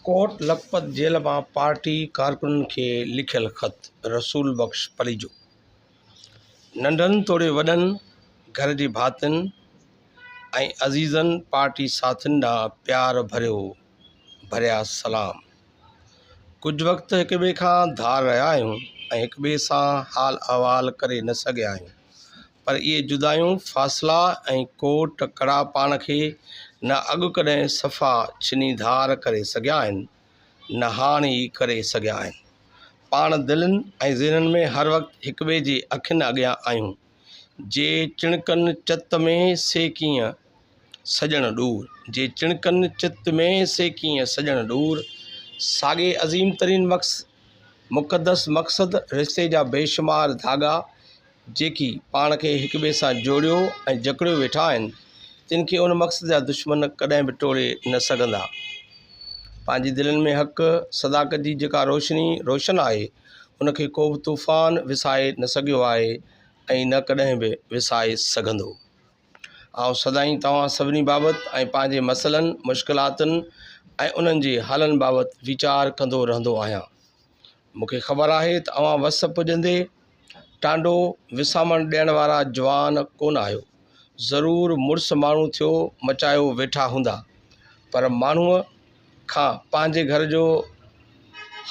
ڪوٽ Lakhpat jail مان party ڪارڪنن کي لکيل خط رسول بخش پليجو ننڍن توڙي وڏن گهر جي ڀاتين ۽ عزيزن پارٽي ساٿين ڏانهن پيار ڀريو ڀريا سلام ڪجهه وقت هڪ ٻئي کان ڌار رهيا آهيون ۽ هڪ ٻئي سان حال احوال ڪري نه سگهيا آهيون پر اهي جدايون، فاصلا ۽ ڪوٽ ڪڙا پاڻ کي نه اڳ ڪڏهن صفا ڇني ڌار ڪري سگهيا آهن، نه هاڻ ئي ڪري سگهيا آهن. پاڻ دلين ۽ ذهنن ۾ هر وقت هڪٻئي جي اکين اڳيان آهيون. جي چڻڪن چت ۾ سي ڪيئن سڄڻ ڏور، جي چڻڪن چت ۾ سي ڪيئن سڄڻ ڏور، ساڳي عظيم ترين مقصد، مقدس مقصد، رشتي جا بيشمار ڌاڳا، جيڪي پاڻ کي هڪ ٻئي سان جوڙيو ۽ جڪڙيو ويٺا آهن، تن کي ان مقصد جا دشمن ڪڏهن به ٽوڙي نه سگهندا. پنهنجي دلين ۾ حق، صداقت جي جيڪا روشني روشن آهي، ان کي ڪوبه طوفان وسائي نه سگهيو آهي ۽ نه ڪڏهن به وسائي سگهندو. آئون سدائين توهان سڀني بابت ۽ پنهنجي مسئلن، مشڪلاتن ۽ انهن جي حلن بابت ويچار ڪندو رهندو آهيان. مون کي خبر آهي ته اوهان وس پڄندي ٽانڊو وسامڻ ڏيڻ وارا جوان ڪونه آهيو. ضرور مڙس ماڻهو ٿيو مچايو ويٺا هوندا. پر ماڻهوء کان پنهنجي گهر جو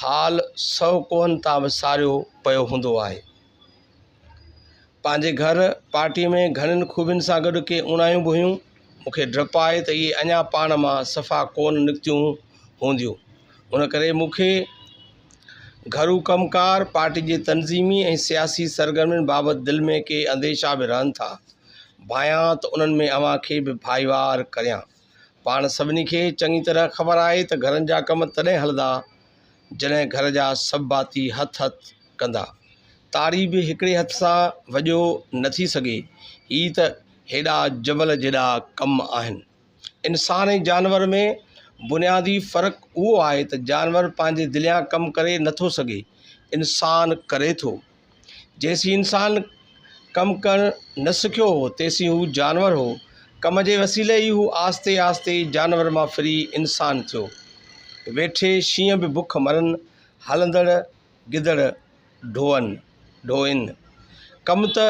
حال سؤ ڪوهن تان به ساريو پيو هوندو آهي. پنهنجي گهر پارٽيء ۾ گهڻين خوبين سان گڏ ڪي اوڻايون به هيون. مون کي ڊپ آهي ته اهي اڃا پاڻ مان صفا ڪونه نڪتيون هونديون. ان ڪري مون کي گهرو ڪم ڪار، پارٽيء جي تنظيمي ۽ سياسي سرگرمين بابت دل ۾ ڪي انديشا به رهن ٿا. ڀانيان ته انهن ۾ اوهان کي به ڀائيوار ڪريان. پاڻ سڀني کي چڱي طرح خبر آهي ته گهرن جا ڪم تڏهن هلندا، جڏهن گهر جا سڀ ڀاتي هٿ هٿ ڪندا. تاري به هڪڙي هٿ سان وڄيو نه ٿي سگهي. هي ته هيڏا جبل جيڏا ڪم آهن. انسان ۽ جانور ۾ بنيادي فرق اهو آهي ته جانور پنهنجي دليان ڪم ڪري نه ٿو سگهي، انسان ڪري ٿو. جيسين انسان ڪم ڪرڻ نه سکيو هو تيسين هو جانور هو. ڪم جي وسيلي ئي هو آهستي آهستي جانور مان ڦري انسان ٿيو. ويٺي شينهن به بک مرن، هلندڙ گدڙ ڍوئن. ڍوئن. ڪم ته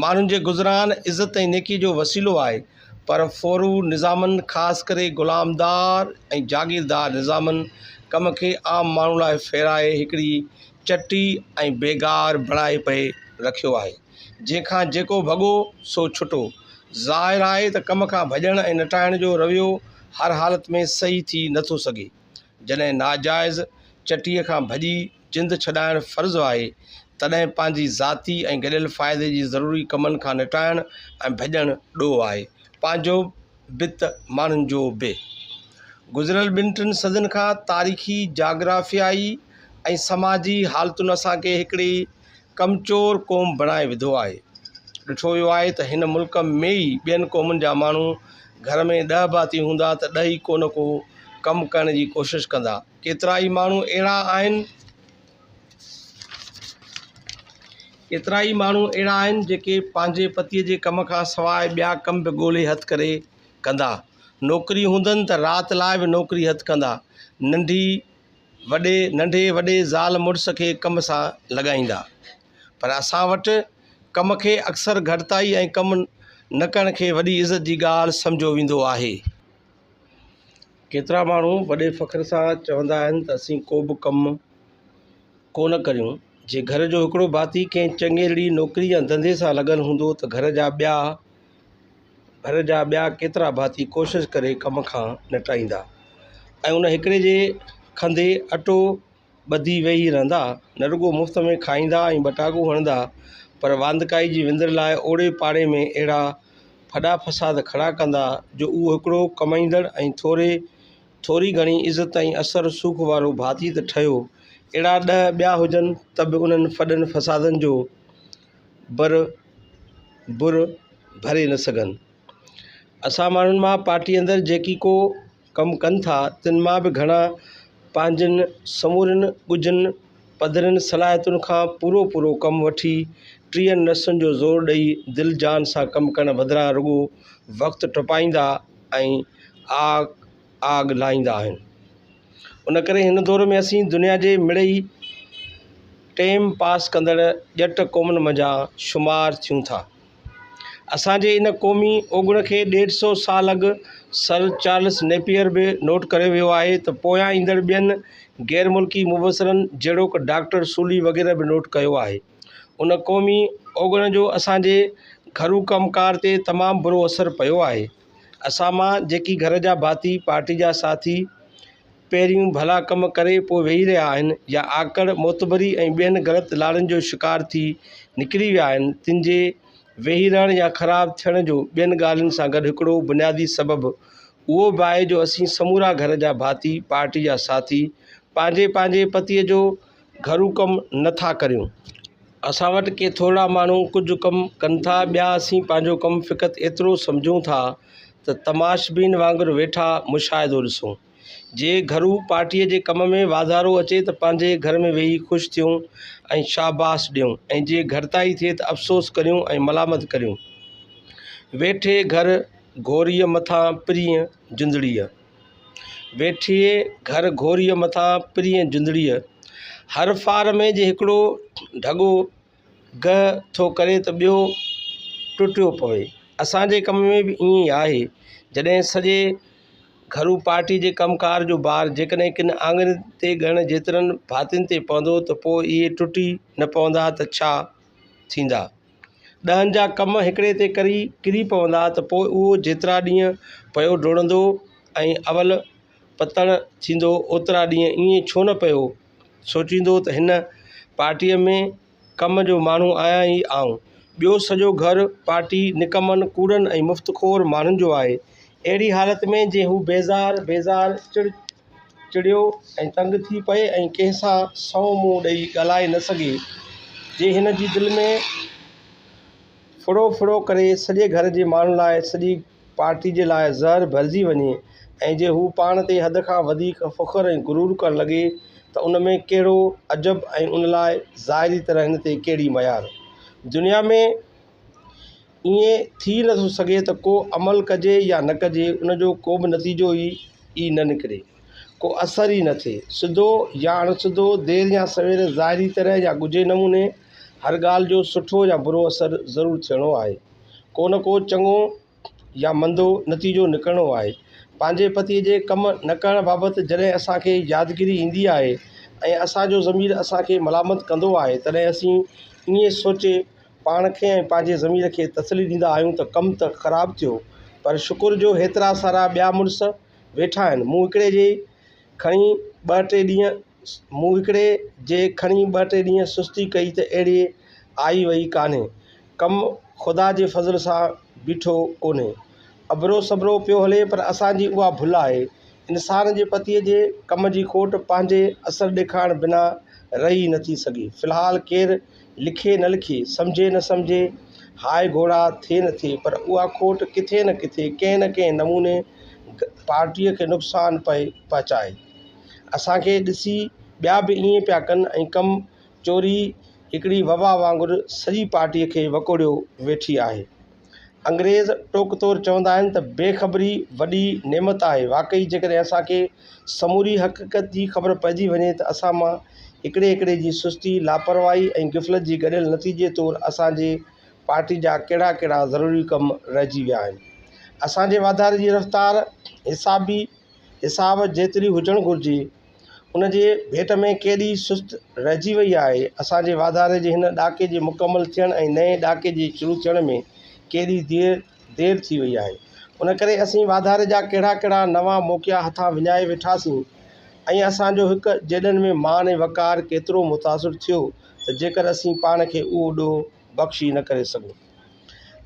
ماڻهن جي گذران، عزت ۽ نيڪي جو وسيلو آهي، پر ڦورو نظامن خاص ڪري غلامدار ۽ جاگيردار نظامن ڪم کي عام ماڻهو لاء ڦيرائي هڪڙي چٽي ۽ بيگار بڻائي پئي رکيو آهي، جنهن کان جيڪو ڀڳو سو ڇٽو. ظاهر آهي ته ڪم کان ڀڄڻ ۽ نٽائڻ جو رويو هر حالت ۾ صحيح ٿي نه ٿو سگهي. جڏهن ناجائز چٽيء کان ڀڄي جند ڇڏائڻ فرض آهي، تڏهن پنهنجي ذاتي ۽ گڏيل فائدي جي ضروري ڪمن کان نٽائڻ ۽ ڀڄڻ ڏوهه آهي. پنهنجو. بت ماڻهن جو به. گذريل ٻن ٽن صدين کان تاريخي، جاگرافيائي ۽ سماجي حالتن اسان کي هڪڙي ڪمچور قوم بڻائي وڌو آهي. ڏٺو ويو آهي ته هن ملڪ ۾ ئي ٻين قومن جا ماڻهو گهر ۾ ڏهه ڀاتي هوندا ته ڏهه ئي ڪو نه ڪو ڪم ڪرڻ جي ڪوشش ڪندا. ڪيترائي ماڻهو اهڙا آهن. ڪيترا ئي ماڻهو اهڙا آهن جيڪي پنهنجي پتيء جي ڪم کان سواء ٻيا ڪم به ڳولي هٿ ڪري ڪندا. نوڪري هوندن ته رات لاء به نوڪري هٿ ڪندا. ننڍي وڏي ننڍي وڏي زال مڙس کي ڪم سان لڳائيندا. پر اسان وٽ ڪم کي اڪثر گهٽتائي ۽ ڪم نه ڪرڻ کي وڏي عزت جي ڳالهه سمجهيو ويندو آهي. ڪيترا ماڻهو وڏي فخر سان چوندا آهن ته اسين ڪو به ڪم ڪو نه ڪريون. جي گهر جو هڪڙو ڀاتي ڪنهن چڱيرڙي نوڪري يا ڌنڌي سان لڳل هوندو ته گهر جا ٻيا گهر جا ٻيا ڪيترا ڀاتي ڪوشش ڪري ڪم کان نٽائيندا ۽ ان هڪڙي جي کنڌي اٽو ٻڌي ويهي رهندا، نه رڳو مفت ۾ کائيندا ۽ ٻٽاڪو هڻندا، پر واندڪائي جي وندر لاء اوڙي پاڙي ۾ اهڙا ڦڏا فساد کڙا ڪندا، جو اهو هڪڙو ڪمائيندڙ ۽ ٿوري ٿوري گهڻي عزت ۽ اثر رسوخ وارو ڀاتي ته ٺهيو، اهڙا ڏهه ٻيا هجن ته به انهن ڦڏن فسادن جو بر بر ڀري نه سگهن. اسان ماڻهن مان پارٽيء اندر جيڪي ڪو ڪم ڪن ٿا، تن مان به گهڻا پنهنجن سمورين ڳجهن، پڌرين صلاحيتن کان پورو پورو ڪم وٺي، ٽيهن نسن جو زور ڏئي، دل جان سان ڪم ڪرڻ بدران رڳو وقت ٽپائيندا ۽ آڳ آڳ لاهيندا آهن. ان ڪري هن دور ۾ اسين دنيا جي مڙئي ٽيم پاس ڪندڙ ڄٽ قومن منجهان شمار ٿيون ٿا. اسان جي ان قومي اوگڻ کي ڏيڍ سئو سال اڳ سر چارلس نيپئر به نوٽ ڪري ويو آهي ته پويان ايندڙ ٻين غير ملڪي مبصرن جهڙوڪ ڊاڪٽر سولي وغيره به نوٽ ڪيو آهي. ان قومي اوگڻ جو اسان جي گهرو ڪم ڪار تي تمام برو اثر پيو آهي. اسان مان جيڪي گهر جا ڀاتي، پارٽي جا ساٿي پهريون ڀلا ڪم ڪري پوء ويهي رهيا آهن يا آڪڙ، معتبري ۽ ٻين غلط لالن جو شڪار ٿي نڪري ويا آهن، تن جي ويهي رهڻ يا خراب ٿيڻ جو ٻين ڳالهين سان گڏ هڪڙو بنيادي سبب اهو به آهي جو اسين سمورا گهر جا ڀاتي، پارٽي جا ساٿي پنهنجي پنهنجي پتيء جو گهرو ڪم نه ٿا ڪريون اسان وٽ ڪي ٿورڙا ماڻهو ڪجهه ڪم ڪن ٿا ٻيا اسين پنهنجو ڪم فقط ايترو سمجهون ٿا ته تماشبين وانگر ويٺا مشاهدو ڏسون جي گهرو پارٽي جي ڪم ۾ واڌارو اچي ته پنهنجي گهر ۾ ويهي خوش ٿيون ۽ شاباس ڏيون ۽ جي گهٽتائي ٿئي ته افسوس ڪريون ۽ ملامت ڪريون ويٺي گهر گهوريء مٿان پرينء جندڙيء ويٺيء گهر گهوريء مٿان پرينء جندڙيء هر ڦار ۾ جي هڪڙو ڍڳو گهه ٿو ڪري ته ٻيو ٽٽيو پوي. اسان جي ڪم ۾ به ائين ئي آهي. جڏهن سڄي گهرو پارٽيء جي ڪم ڪار جو بار جيڪڏهن ڪن آڱرين تي ڳڻڻ جيترن ڀاتين تي پوندو ته پوء اهي ٽٽي نه پوندا ته ڇا ٿيندا. ڏهن جا ڪم هڪڙي تي ڪري ڪري پوندا ته پوء اهو جيترا ڏينهن پيو ڊوڙندو ۽ اول پتڻ ٿيندو اوترا ڏينهن ائين ڇو نه پيو سوچيندو ته هن پارٽيء ۾ ڪم جو ماڻهو آهيان ئي آئون. ٻيو سڄو گهر پارٽي نڪمن، ڪوڙن ۽ مفت خور ماڻهن جو آهي. اهڙي حالت ۾ جي هو بيزار بيزار چڙ، چڙيو ۽ تنگ ٿي پئي ۽ ڪنهن سان سنئون منهن ڏئي ڳالهائي نه سگهي جي هن جي دل ۾ ڦڙو ڦڙو ڪري سڄي گهر جي ماڻهن لاء سڄي پارٽي جي لاء زهر ڀرجي وڃي ۽ جي هو پاڻ تي حد کان وڌيڪ فخر ۽ غرور ڪرڻ لڳي ته ان ۾ ڪهڙو عجب ۽ ان لاء ظاهري طرح هن تي ڪهڙي ميار دنيا ۾ ائين ٿي نه ٿو سگهي ته ڪو عمل ڪجي يا نه ڪجي ان جو ڪو به نتيجو ئي ئي نه نڪري، ڪو اثر ئي نه ٿئي. سڌو يا اڻ سڌو، دير يا سوير، ظاهري طرح يا ڳجهي نموني، هر ڳالهه جو سٺو يا برو اثر ضرور ٿيڻو آهي. ڪو نه ڪو چڱو يا مندو نتيجو نڪرڻو آهي. پنهنجي پتيء جي ڪم نه ڪرڻ بابت جڏهن اسان کي يادگيري ايندي آهي ۽ اسان جو ضمير اسان کي ملامت ڪندو آهي تڏهن اسين ائين سوچي پاڻ کي ۽ پنهنجي ضمير کي تسلي ڏيندا آهيون ته ڪم ته خراب ٿيو پر شڪر جو هيترا سارا ٻيا مڙس ويٺا آهن مون هڪڙي جي کڻي ٻه ٽي ڏينهن مون هڪڙي جي کڻي ٻه ٽي ڏينهن سستي ڪئي ته اهڙي آئي وئي ڪانهي ڪم خدا جي فضل سان بيٺو ڪونهي ابرو سبرو پيو هلي پر اسان جي اها ڀل آهي انسان جي پتي جي ڪم جي کوٽ پنهنجي اثر ڏيکارڻ بنا رهي نٿي سگهي في الحال ڪير لکي نه لکي، سمجهي نه سمجهي، هاء گهوڙا ٿئي نه ٿئي پر اها کوٽ ڪٿي نه ڪٿي ڪنهن نه ڪنهن نموني پارٽيء کي نقصان پئي پهچائي. اسان کي ڏسي ٻيا به ائين پيا ڪن ۽ ڪم چوري هڪڙي وبا وانگر سڄي پارٽيء کي وڪوڙيو ويٺي آهي. انگريز ٽوڪ طور چوندا آهن ته بي خبري وڏي نعمت آهي واقعي جيڪڏهن اسانکي سموري حقيقت جي خبر پئجي وڃي ته اسان مان هڪڙي هڪڙي جي سستي لاپرواهي ۽ غفلت جي گڏيل نتيجي طور اسانجي پارٽي جا ڪهڙا ڪهڙا ضروري ڪم رهجي ويا آهن اسانجي واڌاري جي رفتار حسابي حساب جيتري هجڻ گهرجي ان جي ڀيٽ ۾ ڪيڏي سست رهجي وئي آهي اسان جي واڌاري جي هن ڏاڪي جي مڪمل ٿيڻ ۽ نئين ڏاڪي جي شروع ٿيڻ ۾ ڪيڏي دير دير ٿي وئي آهي ان ڪري اسين واڌاري جا ڪهڙا ڪهڙا نوان موقعا هٿان وڃائي ويٺاسين ۽ اسان جو هڪ جيڏن ۾ مان ۽ وقار ڪيترو متاثر ٿيو ته جيڪر اسين پاڻ کي اهو ڏوهه بخش ئي نه ڪري سگهون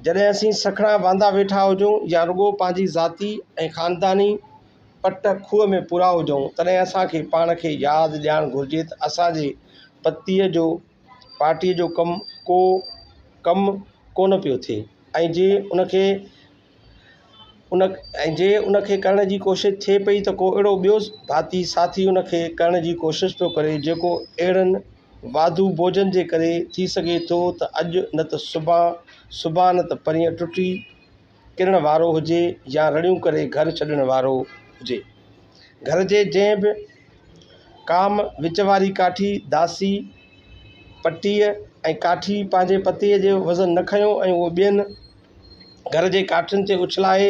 جڏهن اسين سکڻا واندا ويٺا هجون يا رڳو پنهنجي ذاتي ۽ خانداني پٽ کوهه ۾ پورا هجون تڏهن اسان کي پاڻ کي ياد ڏيارڻ گهرجي ته اسانجي پتيء جو پارٽيء جو ڪم ڪو ڪم ڪو نه پيو ٿئي ۽ جي ان کي ان ۽ جي ان کي ڪرڻ جي ڪوشش ٿئي پئي ته ڪو اهڙو ٻيو ڀاتي ساٿي ان کي ڪرڻ جي ڪوشش پيو ڪري جيڪو اهڙن واڌو بوجهن جي ڪري ٿي سگهي ٿو ته اڄ نه ته سڀان سڀان نه ته پرينء ٽٽي ڪرڻ وارو هجي يا رڙيون ڪري گهر ڇڏڻ وارو هجي. گهر جي جنهن به ڪام وچ واري ڪاٺي، داسي، پٽيء ۽ ڪاٺي پنهنجي پتيء جو وزن نه کنيو ۽ اهو ٻين گهر جي ڪاٺين تي اڇلائي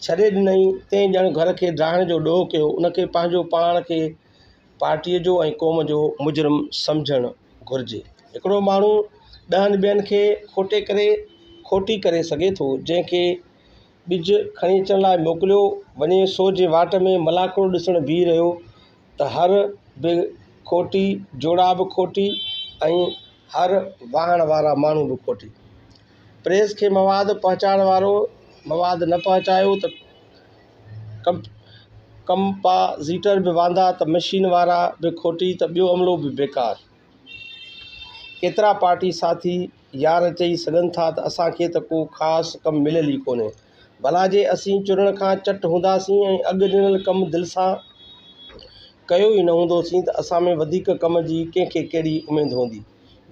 ڇڏي ڏنائين، تنهن ڄڻ گهر کي ڊاهڻ جو ڏوهه ڪيو، ان کي پنهنجو پاڻ کي پارٽيء جو ۽ قوم جو مجرم سمجهڻ گهرجي. هڪڙو ماڻهو ڏهن ٻين کي کوٽي ڪري کوٽي ڪري سگهي ٿو، جنهن کي ٻج کڻي اچڻ لاء موڪليو وڃي سو جي واٽ ۾ ملاکڙو ڏسڻ بيهي رهيو ته هر به کوٽي، جوڙا به کوٽي ۽ هر واهڻ وارا ماڻهو به کوٽي. پريس کي مواد پهچائڻ وارو مواد نه پهچايو ته ڪم ڪمپازيٽر به واندا ته مشين وارا به کوٽي ته ٻيو عملو به بيڪار. ڪيترا پارٽي ساٿي يار چئي سگهن ٿا ته اسان کي ته ڪو خاص ڪم مليل ئي ڪونهي. ڀلا جي اسين چرڻ کان چٽ هونداسين ۽ اڳ ڏنل ڪم دل سان ڪيو ئي نه هوندوسين ته اسان ۾ وڌيڪ ڪم جي ڪنهن کي ڪهڙي اميد هوندي.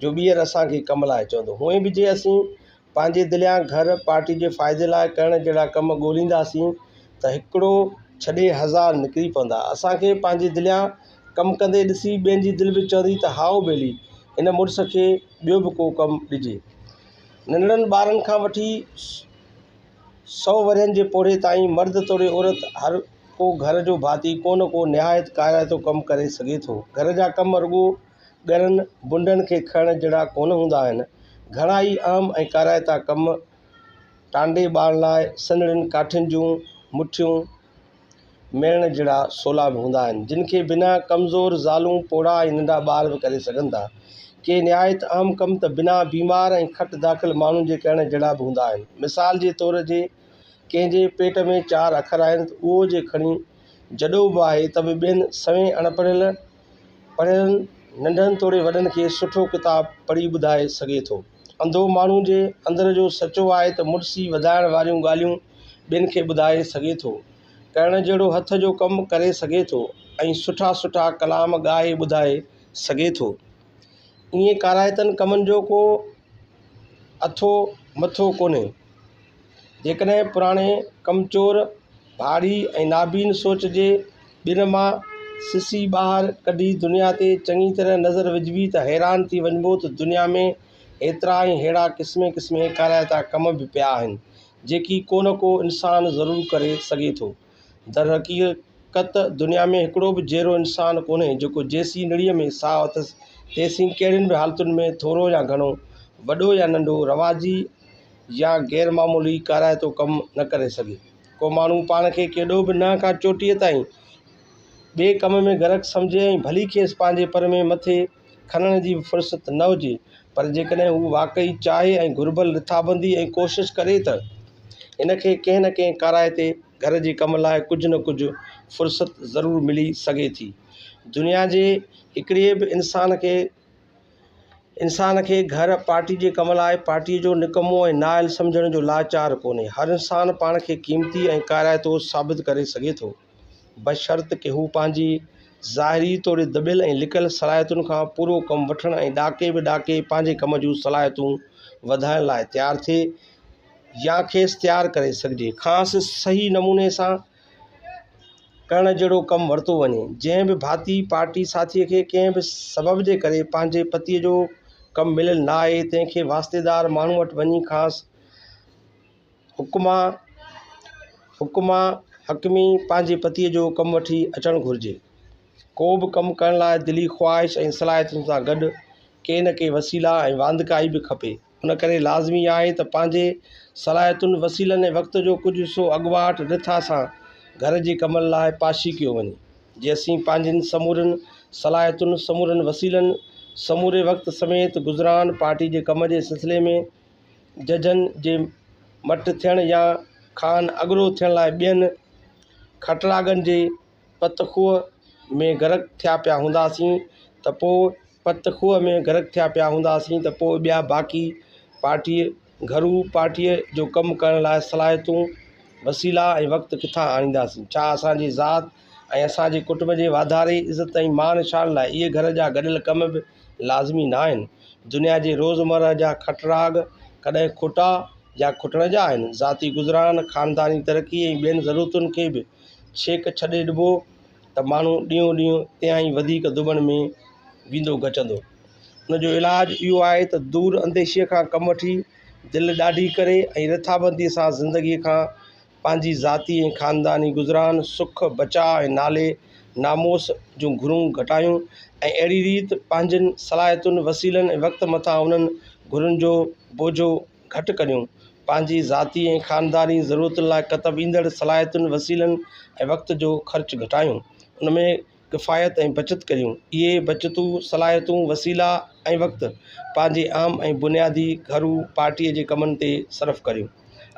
جو ٻيهر اسان کي ڪم لاء چوندو. هونئن به جي اسين پنهنجي دليان گهر پارٽي جي فائدي لاء ڪرڻ جهڙا ڪم ڳولينداسين ته هڪڙو ڇڏي هزار نڪري پوندا. اسان کي پنهنجي دليان ڪم ڪندي ڏسي ٻين جي دل به چوندي ته هائو ڀيلي هن مڙس کي ٻيو به ڪو ڪم ڏجي. ننڍڙن ٻارن کان وٺي سؤ ورهين جي پوڙهي تائين مرد توڙي عورت هر ڪو گهر جو ڀاتي ڪو نه ڪو نهايت ڪارائتو ڪم ڪري سگهي ٿو. گهر جا ڪم رڳو ڳرن بنڊن کي کڻڻ جھڙا ڪونه هوندا آهن. گھڻا ئي اهم ۽ ڪارائتا ڪم ٽانڊي ٻارڻ لاء سنهڙين ڪاٺين جون مٺيون ميڙڻ جھڙا سولا به هوندا آهن، جن کي بنا ڪمزور زالون، پوڙها ۽ ننڍا ٻار به ڪري سگھن ٿا. ڪي نهايت اهم ڪم ته بنا بيمار ۽ کٽ داخل ماڻهن جي ڪرڻ جھڙا به هوندا آهن. مثال جي طور جي ڪنهن جي پيٽ ۾ چار اکر آهن ته اهو جي کڻي جڏو به آهي ته به ٻين سوين اڻپڙهيل، پڙهيل ننڍن توڙي وڏن کي سٺو ڪتاب پڙهي ٻڌائي سگهي ٿو. انڌو ماڻهو جي اندر جو سچو آهي ته مڙسي وڌائڻ واريون ڳالهيون ٻين کي ٻڌائي سگهي ٿو. ڪرڻ جهڙو هٿ جو ڪم ڪري سگهي ٿو ۽ سٺا سٺا ڪلام ڳائي ٻڌائي سگهي ٿو. ائين ڪارائتن ڪمن جو ڪو اٿو مٿو ڪونهي. جيڪڏهن پراڻي ڪمچور ڀاڙي ۽ نابين سوچ جي ٻن مان سسي ٻاهر ڪڍي دنيا تي چڱي طرح نظر وجهبي ته حيران ٿي وڃبو ته دنيا ۾ ايترا ۽ ههڙا قسمين قسمين ڪارائتا ڪم به پيا آهن جيڪي ڪو نه ڪو انسان ضرور ڪري سگهي ٿو درحقيقت دنيا ۾ هڪڙو به جيئرو انسان ڪونهي جيڪو جيسين نڙيء ۾ ساهه اٿس تيسين ڪهڙين به حالتن ۾ ٿورو يا گهڻو، وڏو يا ننڍو، رواجي يا غير معمولي ڪارائتو ڪم نه ڪري سگهي. ڪو ماڻهو پاڻ کي ڪيڏو به ننهن کان چوٽيء تائين ٻئي ڪم ۾ غرق سمجهي ۽ ڀلي کيس پنهنجي پر ۾ مٿي، کنڻ جي به فرصت نه هجي پر جيڪڏهن هو واقعي چاهي ۽ گهربل رٿابندي ۽ ڪوشش ڪري ته هن کي ڪنهن نه ڪنهن ڪارائي تي گهر جي ڪم لاء ڪجهه نه ڪجهه فرصت ضرور ملي سگهي ٿي دنيا جي هڪڙي به انسان کي انسان کي گهر پارٽي جي ڪم لاء پارٽي جو نڪمو ۽ نااهل سمجهڻ جو لاچار ڪونهي هر انسان پاڻ کي قيمتي ۽ ڪارائتو ثابت ڪري سگهي ٿو بشرط ڪه هو پنهنجي ظاهري توڙي دٻيل ۽ لڪل صلاحيتن کان پورو ڪم وٺڻ ۽ ڏاڪي به ڏاڪي پنهنجي ڪم جون صلاحيتون وڌائڻ لاء تيار ٿئي يا کيس تيار ڪري سگهجي کانئس صحيح نموني سان ڪرڻ جهڙو ڪم ورتو وڃي جنهن به ڀاتي پارٽي ساٿيء کي ڪنهن به سبب جي ڪري پنهنجي پتيء جو ڪم مليل نه آهي تنهن کي واسطيدار ماڻهوء وٽ وڃي کانئس حڪما، حڪما، حڪمي، پنهنجي پتيء جو ڪم وٺي اچڻ گهرجي. ڪو به ڪم ڪرڻ لاء دلي خواهش ۽ صلاحيتن سان گڏ ڪي نه ڪي وسيلا ۽ واندڪائي به کپي. ان ڪري لازمي آهي ته پنهنجي صلاحيتن، وسيلن ۽ وقت جو ڪجهه حصو اڳواٽ رٿا سان گهر جي ڪمن لاء پاشي ڪيو وڃي. جي اسين پنهنجين سمورين صلاحيتن، سمورين وسيلن، سموري وقت سميت گذران پارٽي جي ڪم جي سلسلي ۾ ججن جي مٽ ٿيڻ يا خان اڳرو ٿيڻ لاء ٻين کٽراڳن جي پت کوهه ۾ غرق ٿيا پيا هونداسين ته پوء پت کوهه ۾ غرق ٿيا پيا هونداسين ته پوء ٻيا باقي پارٽي گهرو پارٽي جو ڪم ڪرڻ لاء صلاحيتون وسيلا ۽ وقت ڪٿان آڻينداسين ڇا اسانجي ذات ۽ اسانجي ڪٽنب جي واڌاري عزت ۽ مان شان لاء اهي گهر جا گڏيل ڪم به لازمي ناهن. دنيا جي روزمره جا کٽراڳ ڪڏهن کوٽا يا کوٽڻ جا آهن. ذاتي گذران، خانداني ترقي ۽ ٻين ضرورتن کي به ڇيڪ ڇڏي ڏبو ته ماڻهو ڏينهون ڏينهن تيائين وڌيڪ دٻڻ ۾ ويندو گچندو. ان جو علاج اهو آهي ته دور انديشيء کان ڪم وٺي، دل ڏاڍي ڪري ۽ رٿابنديء سان زندگيء کان پنهنجي ذاتي ۽ خانداني گذران، سک، بچاء ۽ نالي ناموس جون گهرون گهٽايون ۽ اهڙي ريت پنهنجين صلاحيتن، وسيلن ۽ وقت مٿان انهن گهرن جو بوجهو گهٽ ڪريون. پنهنجي ذاتي ۽ خانداني ضرورتن لاء ڪتب ايندڙ صلاحيتن، وسيلن ۽ وقت جو خرچ گهٽايون. ان ۾. ڪفايت ۽ بچت ڪريون. اهي بچتون، صلاحيتون، وسيلا ۽ وقت پنهنجي اهم ۽ بنيادي گهرو پارٽيء جي ڪمن تي صرف ڪريون.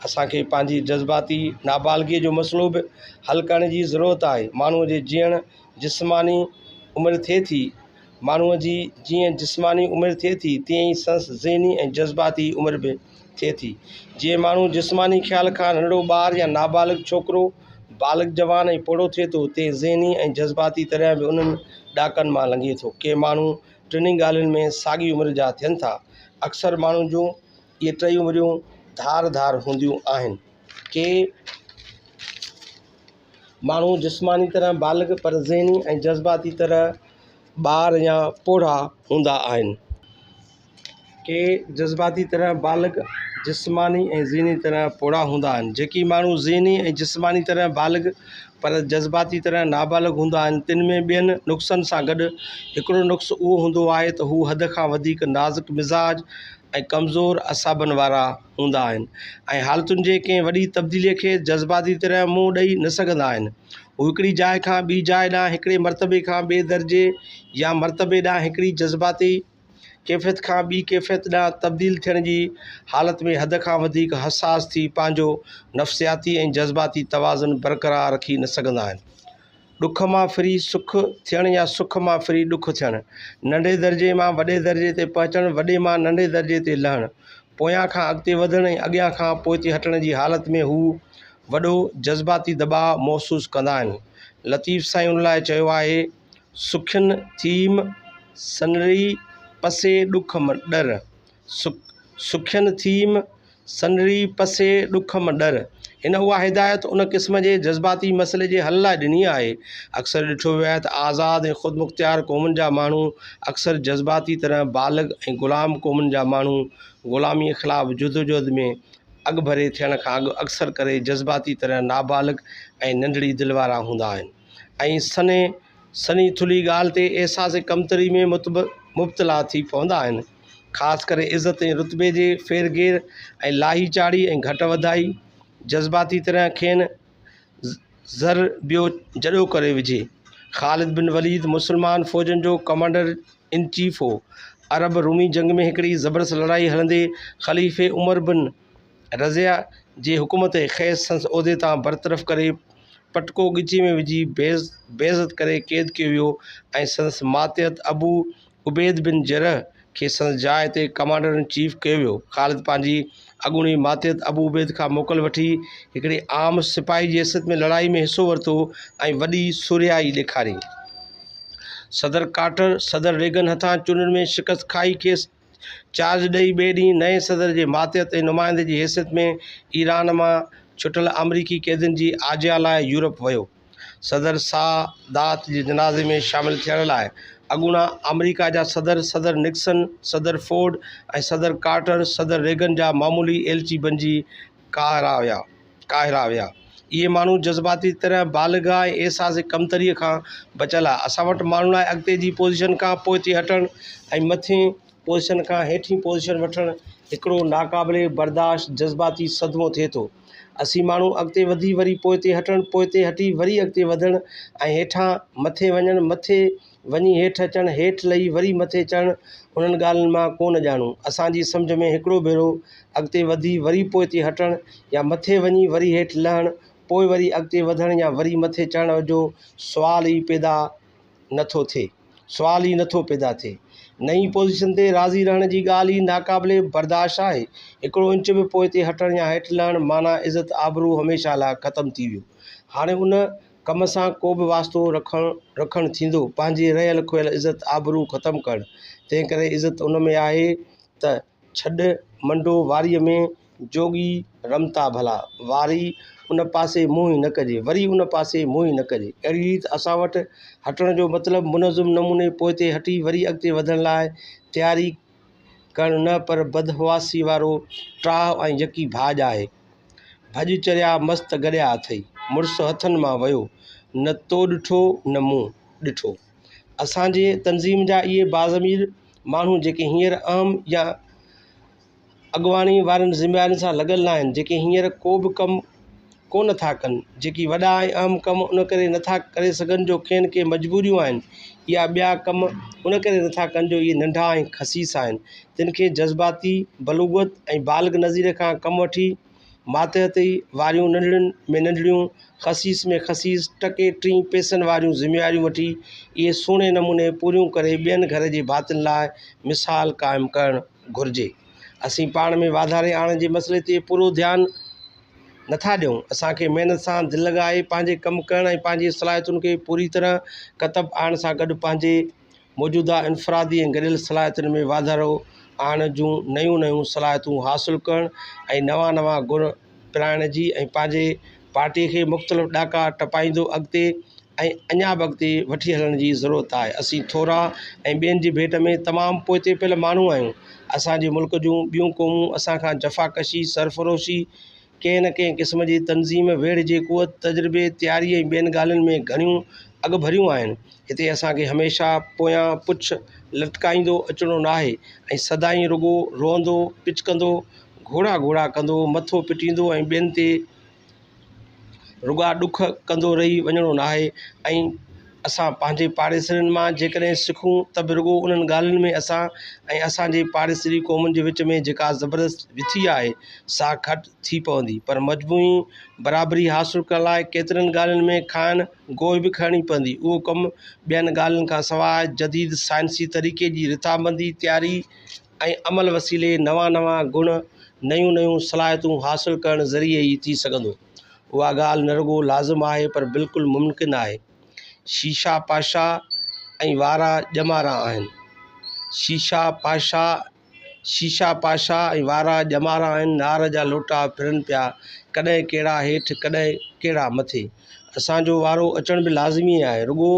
اسان کي پنهنجي جذباتي نابالغيء جو مسئلو به حل ڪرڻ جي ضرورت آهي. ماڻهوء جي جيئڻ جسماني عمر ٿئي ٿي. ماڻهوء جي جيئن جسماني عمر ٿئي ٿي، تيئن ئي سنس ذهني ۽ جذباتي عمر به. ٿئي ٿي، جيئن ماڻهو جسماني خيال کان ننڍڙو ٻار يا نابالغ ڇوڪرو بالغ جوان ۽ پوڙهو ٿئي ٿو، تيئن ذهني ۽ جذباتي طرح به انهن ڏاڪن مان لنگهي ٿو. ڪي ماڻهو ٽنهي ڳالهين ۾ ساڳي عمر جا ٿين ٿا. اڪثر ماڻهن جون اهي ٽئي عمريون ڌار ڌار هونديون آهن. ڪي ماڻهو جسماني طرح بالغ پر ذهني ۽ جذباتي طرح ٻار يا پوڙها هوندا آهن. ڪي جذباتي طرح بالغ، جسماني ۽ ذھني طرح پوڙها هوندا آهن. جيڪي ماڻهو ذھني ۽ جسماني طرح بالغ پر جذباتي طرح نابالغ هوندا آهن، تن ۾ ٻين نقصن سان گڏ هڪڙو نقص اهو هوندو آهي ته هو حد کان وڌيڪ نازڪ مزاج ۽ ڪمزور اعصابن وارا هوندا آهن ۽ حالتن جي ڪنهن وڏي تبديليء کي جذباتي طرح منهن ڏئي نه سگهندا آهن. هو هڪڙي جاء کان ٻي جاء ڏانهن، هڪڙي مرتبي کان ٻئي درجي يا مرتبي ڏانهن هڪڙي جذباتي ڪيفيت کان ٻي ڪيفيت ڏانهن تبديل ٿيڻ جي حالت ۾ حد کان وڌيڪ حساس ٿي پنهنجو نفسياتي ۽ جذباتي توازن برقرار رکي نه سگهندا آهن. ڏک مان ڦري سک ٿيڻ يا سک مان ڦري ڏک ٿيڻ، ننڍي درجي مان وڏي درجي تي پهچڻ، وڏي مان ننڍي درجي تي لهڻ، پويان کان اڳتي وڌڻ ۽ اڳيان کان پوئتي هٽڻ جي حالت ۾ هو وڏو جذباتي دٻاء محسوس ڪندا آهن. لطيف سائين ان لاء چيو آهي. سکن ٿيم سنري پسي ڏک م ڏر سک سکن ٿيم سنري پسي ڏک م ڏر هن اها هدايت ان قسم جي جذباتي مسئلي جي حل لاء ڏني آهي اڪثر ڏٺو ويو آهي ته آزاد ۽ خود مختيار قومن جا ماڻهو اڪثر جذباتي طرح بالغ ۽ غلام قومن جا ماڻهو غلامي خلاف جدوجهد ۾ اڳڀري ٿيڻ کان اڳ اڪثر ڪري جذباتي طرح نابالغ ۽ ننڍڙي دل وارا هوندا آهن ۽ سنهي سنهي ٿلهي ڳالهه تي احساس ڪمتري ۾ مبتلا ٿي پوندا آهن، خاص ڪري عزت ۽ رتبي جي ڦير گهير ۽ لاهي چاڙهي ۽ گهٽ وڌائي جذباتي طرح کين زر ٻيو جڏو ڪري وجهي. خالد بن وليد مسلمان فوجن جو ڪمانڊر ان چيف هو. عرب رومي جنگ ۾ هڪڙي زبردست لڙائي هلندي خليفي عمر بن رضيه جي حڪم تي کيس سندس عهدي تان برطرف ڪري پٽڪو ڳچيء ۾ وجهي بعزت ڪري قيد ڪيو ويو ۽ سندس ماتحت ابو عبيد بن جرح کي سندس جاء تي ڪمانڊر ان چيف ڪيو ويو. خالد پنهنجي اڳوڻي ماتحت ابو عبيد کان موڪل وٺي هڪڙي عام سپاهي جي حيثيت ۾ لڙائي ۾ حصو ورتو ۽ وڏي سورهيائي ڏيکاري. صدر ڪارٽر صدر ريگن هٿان چونڊن ۾ شڪست کائي کيس چارج ڏئي ٻئي ڏينهن نئين صدر جي ماتحت ۽ نمائندي جي حيثيت ۾ ايران مان ڇٽل آمريڪي قيدين جي آجيان لاء يورپ ويو. صدر سا دات جي جنازي ۾ شامل ٿيڻ لاء اڳوڻا آمريڪا جا صدر، صدر نڪسن، صدر فورڊ ۽ صدر ڪارٽر، صدر ريگن جا معمولي ايلچي بنجي ڪاهرا ويا ڪاهرا ويا. اهي ماڻهو جذباتي طرح بالغ ۽ احساس ڪمتريء کان بچيل آهي. اسان وٽ ماڻهن لاء اڳتي جي پوزيشن کان پوئتي هٽڻ ۽ مٿين پوزيشن کان هيٺين پوزيشن وٺڻ هڪڙو ناقابل برداشت جذباتي صدمو ٿئي ٿو. اسين ماڻهو اڳتي وڌي وري پوئتي هٽڻ، پوئتي هٽي وري اڳتي وڌڻ ۽ هيٺان مٿي وڃڻ، مٿي، وڃي هيٺ اچڻ، هيٺ لهي وري مٿي چڙهڻ، انهن ڳالهين مان ڪو نه ڄاڻون. اسان جي سمجهه ۾ هڪڙو ڀيرو اڳتي وڌي وري پوئتي هٽڻ يا مٿي وڃي وري هيٺ لهڻ، پوء وري اڳتي وڌڻ يا وري مٿي چڙهڻ جو سوال ئي پيدا نه ٿو ٿئي. سوال ئي نه ٿو پيدا ٿئي. نئين پوزيشن تي راضي رهڻ جي ڳالهه ئي ناقابل برداشت آهي. هڪڙو انچ به پوئتي هٽڻ يا هيٺ لهڻ معنيٰ عزت آبرو هميشه لاء ختم ٿي ويو. هاڻي ان ڪم سان ڪو به واسطو رکڻ رکڻ ٿيندو پنهنجي رهيل کوهيل عزت آبرو ختم ڪرڻ تنهن ڪري عزت ان ۾ آهي ته ڇڏ منڊو واريء ۾ جوڳي رمتا ڀلا واري ان پاسي منهن ئي نه ڪجي وري ان پاسي منهن ئي نه ڪجي اهڙي ريت اسان وٽ هٽڻ جو مطلب منظم نموني پوئتي هٽي وري اڳتي وڌڻ لاء تياري ڪرڻ نه پر بدحواسي وارو ٽاهه ۽ يڪي ڀاڄ آهي. ڀڄ چريا مست گڏيا اٿئي. مڙس هٿن مان ويو. نه تو ڏٺو نه مون ڏٺو. اسان جي تنظيم جا اهي باضمير ماڻهو جيڪي هينئر اهم يا اڳواڻي وارين ذميوارين سان لڳل ناهن جيڪي هينئر ڪو به ڪم ڪو نه ٿا ڪن، جيڪي وڏا ۽ اهم ڪم ان ڪري نه ٿا ڪري سگهن جو کين ڪي مجبوريون آهن يا ٻيا ڪم ان ڪري نه ٿا ڪن جو اهي ننڍا ۽ خسيس آهن تن کي جذباتي بلوغت ۽ بالغ نظير کان ڪم وٺي ماتحتي واريون ننڍڙين ۾ ننڍڙيون خسيس ۾ خسيس ٽڪي ٽين پئسن واريون ذميواريون وٺي اهي سهڻي نموني پوريون ڪري ٻين گهر جي ڀاتين لاء مثال قائم ڪرڻ گهرجي اسين پاڻ ۾ واڌاري آڻڻ جي مسئلي تي پورو ڌيان نٿا ڏيون. اسان کي محنت سان دل لڳائي پنهنجي ڪم ڪرڻ ۽ پنهنجي صلاحيتن کي پوري طرح ڪتب آڻڻ سان گڏ پنهنجي موجوده انفرادي ۽ گڏيل صلاحيتن ۾ واڌارو آڻڻ جون نيون نيون صلاحيتون حاصل ڪرڻ ۽ نوان نوان گڻ پرائڻ جي ۽ پنهنجي پارٽي کي مختلف ڏاڪا ٽپائيندو اڳتي ۽ اڃا به اڳتي وٺي هلڻ جي ضرورت آهي. اسين ٿورا ۽ ٻين جي ڀيٽ ۾ تمام پوئتي پيل ماڻهو آهيون. اسان جي ملڪ جون ٻيون قومون اسان کان جفاڪشي، سرفروشي، ڪنهن نه ڪنهن قسم جي تنظيم، ويڙهه جي قوت، تجربي، تياري ۽ ٻين ڳالهين ۾ گهڻيون اڳڀريون آهن. هتي اسان کي هميشه پويان پڇ لٽڪائيندو اچڻو ناهي ۽ سدائين رڳو روئندو، پچڪندو، گهوڙا گهوڙا ڪندو، مٿو پٽيندو ۽ ٻين تي رڳا ڏک ڪندو رهي وڃڻو ناهي ۽ اسان پنهنجي پاڙيسرين مان جيڪڏهن سکون ته به رڳو انهن ڳالهين ۾ اسان ۽ اسانجي پاڙيسري قومن جي وچ ۾ جيڪا زبردست وٿي آهي سا گهٽ ٿي پوندي پر مجموعي برابري حاصل ڪرڻ لاء ڪيترين ڳالهين ۾ کانئن گوء به کڻڻي پوندي اهو ڪم ٻين ڳالهين کان سواء جديد سائنسي طريقي جي رٿابندي تياري ۽ عمل وسيلي نوان نوان گڻ، نيون نيون صلاحيتون حاصل ڪرڻ ذريعي ئي ٿي سگهندو. اها ڳالهه نه رڳو لازم آهي پر بلڪل ممڪن آهي. شيشا پاشا ۽ وارا ڄمارا آهن. شيشا پاشا شيشا پاشا ۽ وارا ڄمارا آهن، نار جا لوٽا ڦرن پيا، ڪڏهن ڪهڙا هيٺ ڪڏهن ڪهڙا مٿي. اسان جو وارو اچڻ به لازمي آهي. رڳو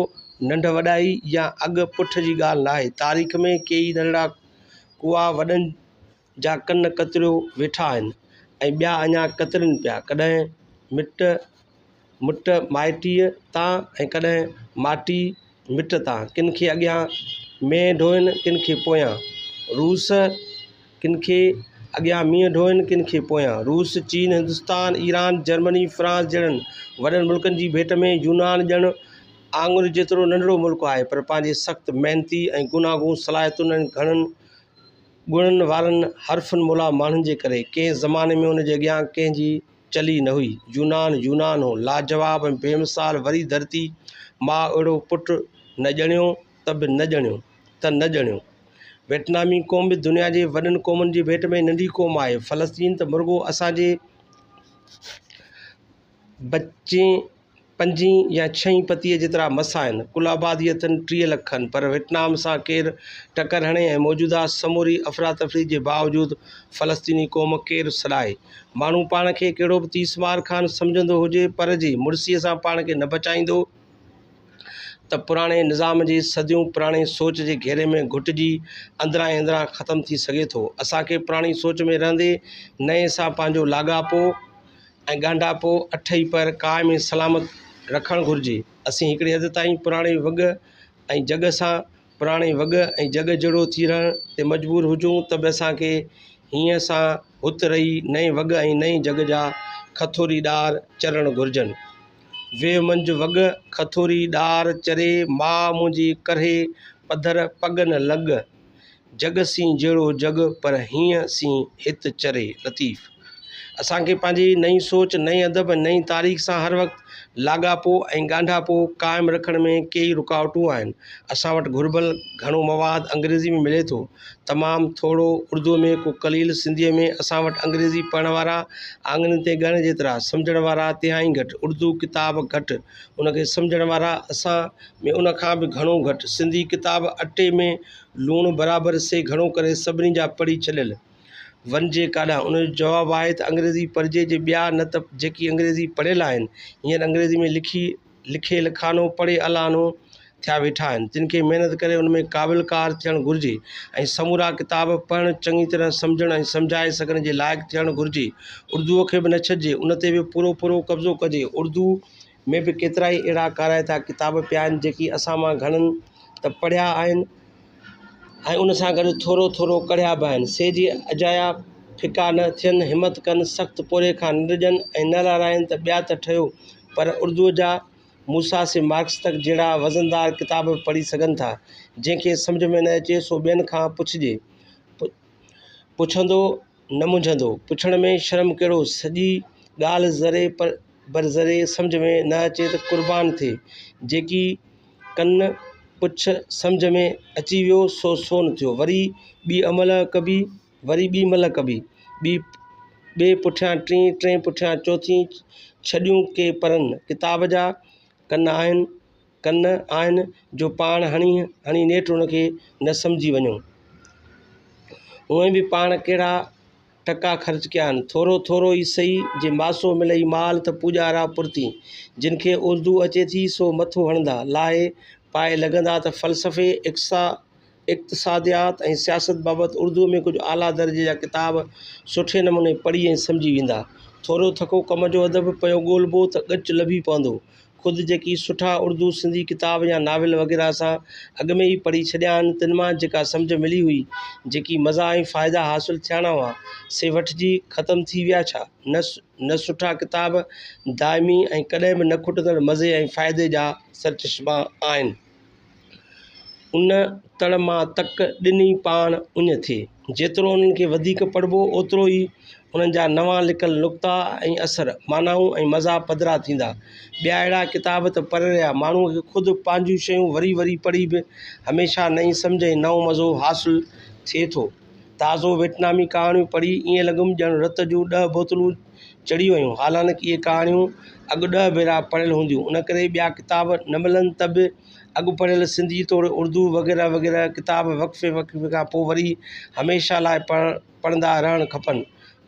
ننڍ وڏائي يا اڳ پٺ جي ڳالهه ناهي. تاريخ ۾ ڪيئي ننڍڙا ڪوئا وڏن جا ڪن ڪتريو ويٺا آهن ۽ ٻيا اڃا ڪترين پيا. ڪڏهن مٽ مٽ مائٽيء تان ۽ ڪڏهن مائٽي مٽ ٿا ڪن کي اڳيان مينهن ڍوئين ڪن کي پويان روس ڪن کي اڳيان مينهن ڍوئين ڪن کي پويان روس چين هندستان ايران جرمني فرانس جهڙن وڏن ملڪن جي ڀيٽ ۾ يونان ڄڻ آڱر جيترو ننڍڙو ملڪ آهي پر پنهنجي سخت محنتي ۽ گوناگون صلاحيتن ۽ گهڻن گڻن وارن حرفن مولا ماڻهن جي ڪري ڪنهن زماني ۾ ان جي اڳيان ڪنهن جي چلي نه هئي. يونان يونان هو. لاجواب ۽ بي مثال وري ڌرتي ماء اهڙو پٽ نه ڄڻيو ته به نه ڄڻيو ته نه ڄڻيو. ويٽنامي قوم به دنيا جي وڏن قومن جي ڀيٽ ۾ ننڍي قوم آهي. فلسطين ته مرڳو اسان جي ٻچي. پنجين يا ڇهين پتيء جيترا مس آهن. ڪل آبادي اٿن ٽيهه لک کن، پر ويٽنام سان ڪير ٽڪر هڻي ۽ موجوده سموري افراتفري جي باوجود فلسطيني قوم ڪير سڏائي؟ ماڻهو پاڻ کي ڪهڙو به تيس مار خان سمجهندو هجي، پر جي مڙسيء سان پاڻ کي نه بچائيندو ته پراڻي نظام جي صديون پراڻي سوچ جي گهيري ۾ گهٽجي اندران ئي اندران ختم ٿي سگهي ٿو. اسان کي پراڻي سوچ ۾ رهندي نئين سان پنهنجو لاڳاپو ۽ ڳانڍاپو اٺئي پهر قائم ۽ سلامت رکڻ گهرجي. اسين هڪڙي حد تائين پراڻي وڳ ۽ جڳ سان پراڻي وڳ ۽ جڳ جهڙو ٿي رهڻ تي مجبور هجون ته به اسان کي هينئن سان هت رهي نئين وڳ ۽ نئين جڳ جا کٿوري ڏار چرڻ گهرجن. ويهه منجهه وڳ کٿوري ڏار چري ماء منهنجي ڪرهي پڌر پڳ نه لڳ. جڳ سين جهڙو جڳ پر هينئن سين هت چري لطيف اسان کي پنهنجي نئين سوچ، نئين ادب ۽ نئين تاريخ سان هر وقت لاڳاپو ۽ ڳانڍاپو قائم رکڻ ۾ ڪيئي رڪاوٽون آهن. اسان وٽ گهربل گهڻو مواد انگريزي ۾ ملي ٿو، تمام ٿورو اردوء ۾ ڪو قليل سنڌيء ۾ اسان وٽ انگريزي پڙهڻ وارا آڱرين تي ڳڻڻ جيترا، سمجهڻ وارا تهائين گهٽ، اردو ڪتاب گهٽ، ان کي سمجهڻ وارا اسان ۾ ان کان به گهڻو گهٽ. سنڌي ڪتاب اٽي ۾ لوڻ برابر سي گهڻو ڪري سڀني جا پڙهي ڇڏيل. وڃجي ڪاڏانهن؟ ان جو جواب آهي ته انگريزي پڙهجي جي ٻيا نه ته جيڪي انگريزي پڙهيل آهن هينئر انگريزي ۾ لکي لکيل کانو پڙهي الانو ٿيا ويٺا آهن تن کي محنت ڪري ان ۾ قابل ڪار ٿيڻ گهرجي ۽ سمورا ڪتاب پڙهڻ چڱي طرح سمجهڻ ۽ سمجهائي سگهڻ جي لائق ٿيڻ گهرجي اردوء کي به نه ڇڏجي ان تي به پورو پورو قبضو ڪجي اردوء ۾ به ڪيترائي اهڙا ڪارائتا ڪتاب پيا آهن جيڪي اسان مان گهڻن ته پڙهيا آهن ۽ ان سان گڏ ٿورو ٿورو ڪڙهيا به آهن سي جي اجايا ڦڪا نه ٿين همت ڪن سخت پوري کان نه ڊڄن ۽ نه لارائين ته ٻيا ته ٺهيو پر اردوء جا موسيٰ سي مارڪس تڪ جهڙا وزندار ڪتاب به پڙهي سگهن ٿا. جنهن کي سمجهه ۾ نه اچي سو ٻين کان پڇجي. پڇندو نه منجهندو. پڇڻ ۾ شرم ڪهڙو. سڄي ڳالهه ذري بر ذري سمجهه ۾ نه اچي ته قربان ٿئي. جيڪي ڪن پڇ سمجهه ۾ اچي ويو سو سون ٿيو. وري ٻي املهه ڪبي وري ٻي مھل ڪبي، ٻي ٻئي پٺيان ٽين، ٽئين پٺيان چوٿين، ڇڏيون ڪي پرن ڪتاب جا، ڪن آھن، ڪن آھن جو پاڻ ھڻي ھڻي نيٺ ان کي نه سمجھي وڃو. اوئين به پاڻ ڪھڙا ٽڪا خرچ ڪيا آھن، ٿورو ٿورو ئي سھي، جي ماسو ملئي مال تھ پوڄارا پرتين، جن کي اردو اچي ٿي سو مٿو ھڻندا، لاھي پائي لڳندا تھ فلسفي، اقصا، اقتصاديات ۽ سياست بابت اردوء ۾ ڪجهه اعليٰ درجي جا ڪتاب سٺي نموني پڙهي ۽ سمجهي ويندا. ٿورو ٿڪو ڪم جو ادب پيو ڳولبو ته ڳچ لڀي پوندو. خود جيڪي سٺا اردو سنڌي ڪتاب يا ناول وغيره اسان اڳ ۾ ئي پڙهي ڇڏيا آهن، تن مان جيڪا سمجهه ملي هئي، جيڪي مزا ۽ فائدا حاصل ٿياڻا هئا، سي وٺجي ختم ٿي ويا ڇا؟ نه، نه سٺا ڪتاب دائمي ۽ ڪڏهن به نه کٽندڙ مزي ۽ فائدي جا سرچشما آهن. ان تڙ مان تڪ ڏني پاڻ اڃ ٿي جيترو انهن کي وڌيڪ پڙهبو اوترو ئي انهن جا نوان لڪل نڪتا ۽ اثر معنائون ۽ مزا پڌرا ٿيندا ٻيا اهڙا ڪتاب ته پري رهيا ماڻهوء کي خود پنهنجون شيون وري وري پڙهي به هميشه نئين سمجهه ۽ نئون مزو حاصل ٿئي ٿو تازو ويٽنامي ڪهاڻيون پڙهي ائين لڳم ڄڻ رت جون ڏهه بوتلون چڙهي ويون، حالانڪ اهي ڪهاڻيون اڳ ڏهه ڀيرا پڙهيل هونديون، ان ڪري ٻيا ڪتاب نه ملن ته به اڳ پڙهيل سنڌي توڙي اردو وغيره وغيره ڪتاب وقفي وقفي کان پوء وري هميشه لاء پڙهڻ پڙهندا رهڻ کپن،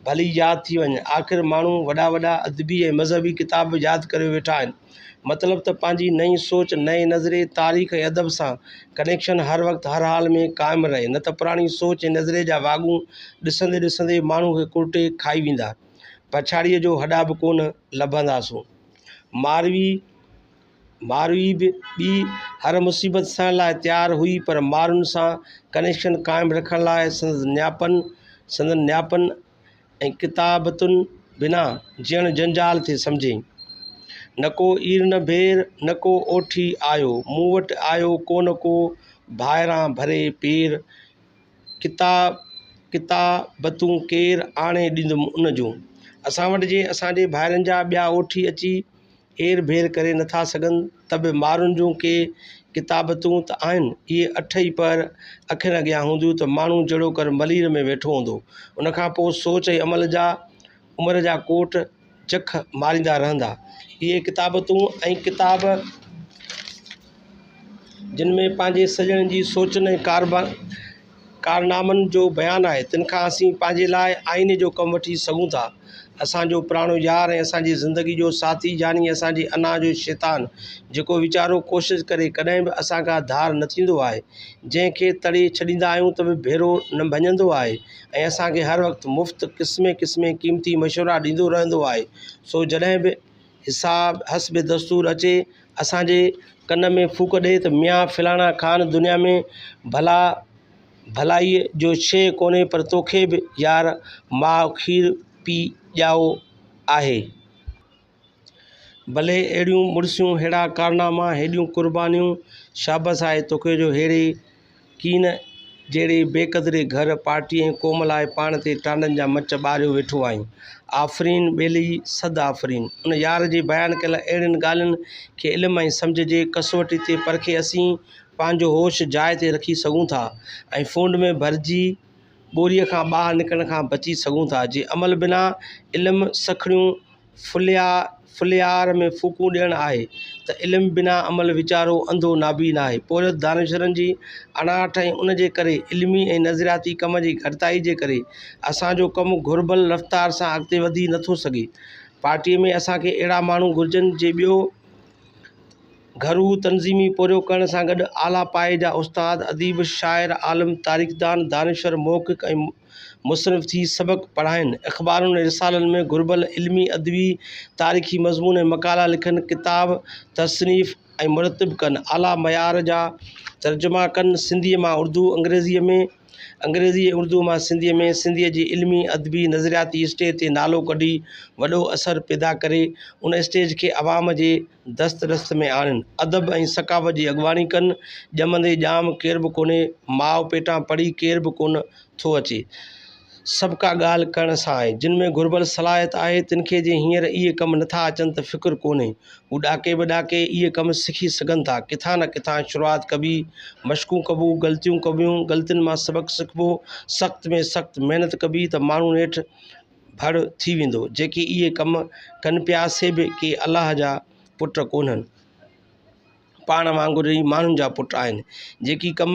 ڀلي ياد ٿي وڃن. آخر ماڻهو وڏا وڏا ادبي ۽ مذهبي ڪتاب به ياد ڪري ويٺا آهن. مطلب ته پنهنجي نئين سوچ، نئين نظرئي، تاريخ ۽ ادب سان ڪنيڪشن هر وقت هر حال ۾ قائم رهي، نه ته پراڻي سوچ ۽ نظرئي جا واڳون ڏسندي ڏسندي ماڻهو کي ڪرٽي کائي ويندا، پڇاڙيء جو هڏا به ڪونه لڀنداسون. ماروي، ماروي به ٻي هر مصيبت سهڻ لاء تيار هئي، پر مارن سان ڪنيڪشن قائم رکڻ لاء سندس نياپن، سندن نياپن ۽ ڪتابتن بنا جيئڻ جنجال ٿي سمجهي. نڪو اير نه ڀير، نڪو اوٺي آيو، مون وٽ آيو ڪونه ڪو ڀائران ڀري پير، ڪتا ڪتا بتون ڪير آڻي ڏيندم ان جون. اسان وٽ جي اسان جي ڀائرن جا ٻيا اوٺي اچي. اير ڀير ڪري نه ٿا سگهن ته به مارن جون ڪي ڪتابتون ته آهن. اهي اٺ ئي پهر اکين اڳيان هونديون ته ماڻهو جهڙوڪر ملير ۾ ويٺو هوندو. ان کان پوء سوچ ۽ عمل جا عمر جا ڪوٽ جک ماريندا رهندا. اهي ڪتابتون ۽ ڪتاب جن ۾ پنهنجي سڄڻن جي سوچن ۽ ڪاربن، ڪارنامن جو بيان آهي، تن کان اسين پنهنجي لاء آئيني جو ڪم وٺي سگهون ٿا. اسان جو پراڻو يار ۽ اسان جي زندگي جو ساٿي يعني اسان جي انا جو شيطان، جيڪو ويچارو ڪوشش ڪري ڪڏهن به اسان کان ڌار نه ٿيندو آهي، جنهن کي تڙي ڇڏيندا آهيون ته به ڀيرو نه ڀڃندو آهي ۽ اسان کي هر وقت مفت قسمين قسمين قيمتي مشورا ڏيندو رهندو آهي، سو جڏهن به حساب حسب دستور اچي اسان جي ڪن ۾ ڦوڪ ڏئي ته ميان فلاڻا خان دنيا ۾ ڀلا ڀلائيء جو شيء ڪونهي پر توکي به يار ماء کير پي ڄائو آهي. ڀلي اهڙيون مڙسيون ههڙا ڪارناما هيڏيون قربانيون شابس آهي توکي جو ههڙي ڪين جهڙي بي قدري گهر پارٽي ۽ قوم لاء پاڻ تي ٽانڊن جا مچ ٻاريو ويٺو آهين. آفرين ٻيلي صد آفرين. ان يار جي بيان ڪيل اهڙين ڳالهين کي علم ۽ سمجهه جي ڪسوٽي تي پرکي اسين پنهنجو هوش جاء تي رکي سگهون ٿا ۽ ڦونڊ ۾ ڀرجي ٻوريء کان ٻاهر نڪرڻ کان بچي سگهون ٿا جي عمل بنا علم سکڻيون ڦليا ڦليار ۾ ڦوڪون ڏيڻ آهي ته علم بنا عمل ويچارو انڌو نابين آهي پورهيت دانشورن جي اڻاٺ ۽ ان جي ڪري علمي ۽ نظرياتي ڪم جي گهٽتائي جي ڪري اسان جو ڪم گهربل رفتار سان اڳتي وڌي نه ٿو سگهي پارٽي ۾ اسان کي اهڙا ماڻهو گهرجن جي ٻيو گهرو تنظيمي پورهيو ڪرڻ سان گڏ اعليٰ پائي جا استاد اديب شاعر عالم تاريخدان دانشور محقق ۽ مصنف ٿي سبق پڙهائين، اخبارن ۽ رسالن ۾ گهربل علمي، ادبي، تاريخي مضمون ۽ مقالا لکن، ڪتاب تصنيف ۽ مرتب ڪن، اعليٰ معيار جا ترجما ڪن، سنڌيء مان اردو، انگريزيء ۾، انگريزيء ۽ اردوء مان سنڌيء ۾، سنڌيء جي علمي، ادبي، نظرياتي اسٽيج تي نالو ڪڍي وڏو اثر پيدا ڪري، ان اسٽيج کي عوام جي. دست رست ۾ آڻين، ادب ۽ ثقافت جي اڳواڻي ڪن، ڄمندي ڄام ڪير به ڪونهي، ماء پيٽان پڙهي ڪير به ڪونه ٿو اچي، سڀ ڪا ڳالهه ڪرڻ سان آهي، جن ۾ گهربل صلاحيت آهي، تن کي جي هينئر اهي ڪم نه ٿا اچن ته فڪر ڪونهي، هو ڏاڪي به ڏاڪي اهي ڪم سکي سگهن ٿا، ڪٿان نه ڪٿان شروعات ڪبي، مشقون ڪبو، غلطيون ڪبيون، غلطين مان سبق سکبو، سخت ۾ سخت محنت ڪبي ته ماڻهو نيٺ. ڀڙ ٿي ويندو، جيڪي اهي ڪم ڪن پيا سي به ڪي الله جا پٽ ڪونهن، پاڻ وانگر ئي ماڻهن جا پٽ آهن، جيڪي ڪم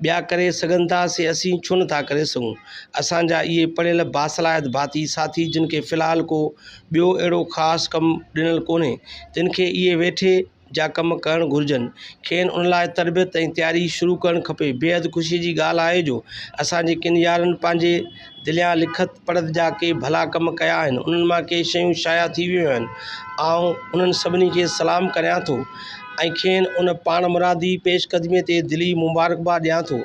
ٻيا ڪري سگهن ٿا سي اسين ڇو نه ٿا ڪري سگهون، اسان جا اهي پڙهيل باصلاحيت ڀاتي ساٿي جن کي في الحال ڪو ٻيو اهڙو خاص ڪم ڏنل ڪونهي، تن کي اهي ويٺي جا ڪم ڪرڻ گهرجن، کين ان لاء تربيت ۽ تياري شروع ڪرڻ کپي. بيحد خوشيء جي ڳالهه آهي جو اسان جي ڪن يارن پنهنجي دليان لکت پڙهت جا ڪي ڀلا ڪم ڪيا آهن، انهن مان ڪي شيون شايع ٿي ويون آهن. آئون انهن سڀني کي سلام ڪريان ٿو ۽ کين ان پاڻمرادي پيش قدميء تي دلي مبارڪباد ڏيان ٿو.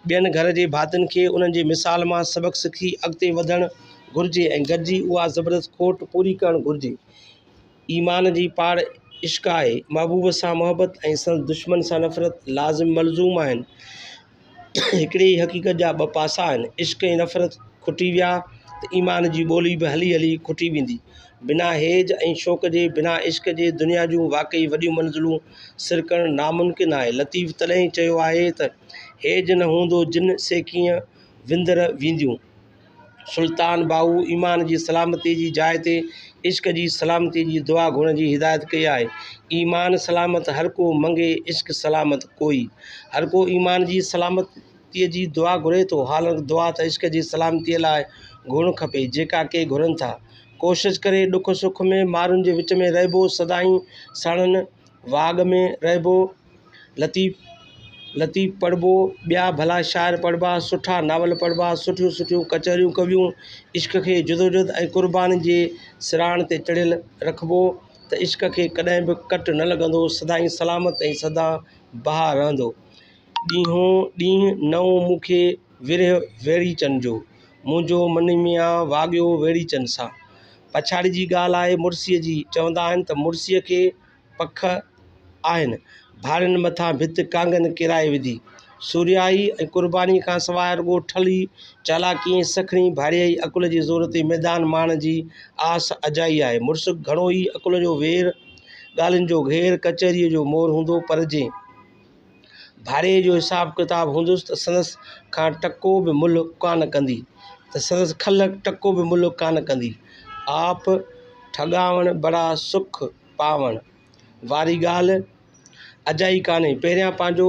ٻين گهر جي ڀاتين کي انهن جي مثال مان سبق سکي اڳتي وڌڻ گهرجي ۽ گڏجي اها زبردست کوٽ پوري ڪرڻ گهرجي. ايمان جي پاڙ عشق آهي. محبوب سان محبت ۽ سندس دشمن سان نفرت لازم ملزوم آهن. هڪڙي ئي حقيقت جا ٻه پاسا آهن. عشق ۽ نفرت کٽي ويا ته ايمان جي ٻولي به هلي هلي کٽي ويندي. بنا هيج ۽ شوق جي، بنا عشق جي دنيا جون واقعي وڏيون منزلون سر ڪرڻ ناممڪن آهي. لطيف تڏهن ئي چيو آهي ته، هيج نه هوندو جن سيڪيء وندر وينديون. سلطان باهو ايمان جي سلامتي جي جاء تي عشق جي سلامتي جي دعا گهرڻ جي هدايت ڪئي آهي ايمان سلامت هر ڪو منگي عشق سلامت ڪوئي هر ڪو ايمان جي سلامتي جي دعا گهري ٿو حالانڪ دعا ته عشق جي سلامتي لاء گهرڻ کپي جيڪا ڪي گهرن ٿا ڪوشش ڪري ڏک سک ۾ ماڻهن جي وچ ۾ رهبو سدائين ساڻن واڳ ۾ رهبو لطيف لطيف پڙهبو ٻيا ڀلا شاعر پڙهبا سٺا ناول پڙهبا سٺيون سٺيون ڪچهريون ڪويون عشق کي جدوجهد ۽ قرباني جي سراڻ تي چڙهيل رکبو ته عشق کي ڪڏهن به ڪٽ نه لڳندو سدائين سلامت ۽ سدا بهار رهندو ڏينهون ڏينهن نئون مون کي ورهه ويڙهيچن جو منهنجو من ميان واڳيو ويڙهيچن سان پڇاڙي جي ڳالهه آهي مڙسي جي چوندا آهن ته مڙسي کي پک آهن. ڀاڙين مٿان ڀت ڪانگن ڪيرائي وڌي. سورهيائي ۽ قربانيء کان سواء رڳو ٺلهي، چالاڪيء ۽ سکڻي ڀاڙيائي عقل جي زور تي ميدان ماڻڻ جي آس اجائي آهي. مڙس گهڻو ئي عقل جو وير، ڳالهين جو گهير، ڪچهريء جو مور هوندو، پر جي ڀاڙيائي جو حساب ڪتاب هوندس ته سندس کان ٽڪو به ملهه ڪانه ڪندي، ته سندس کل ٽڪو به ملهه ڪانه ڪندي. آپ ٺڳاوڻ بڙا سک پاوڻ واري ڳالهه اجائي ڪانهي. پهريان پنهنجو.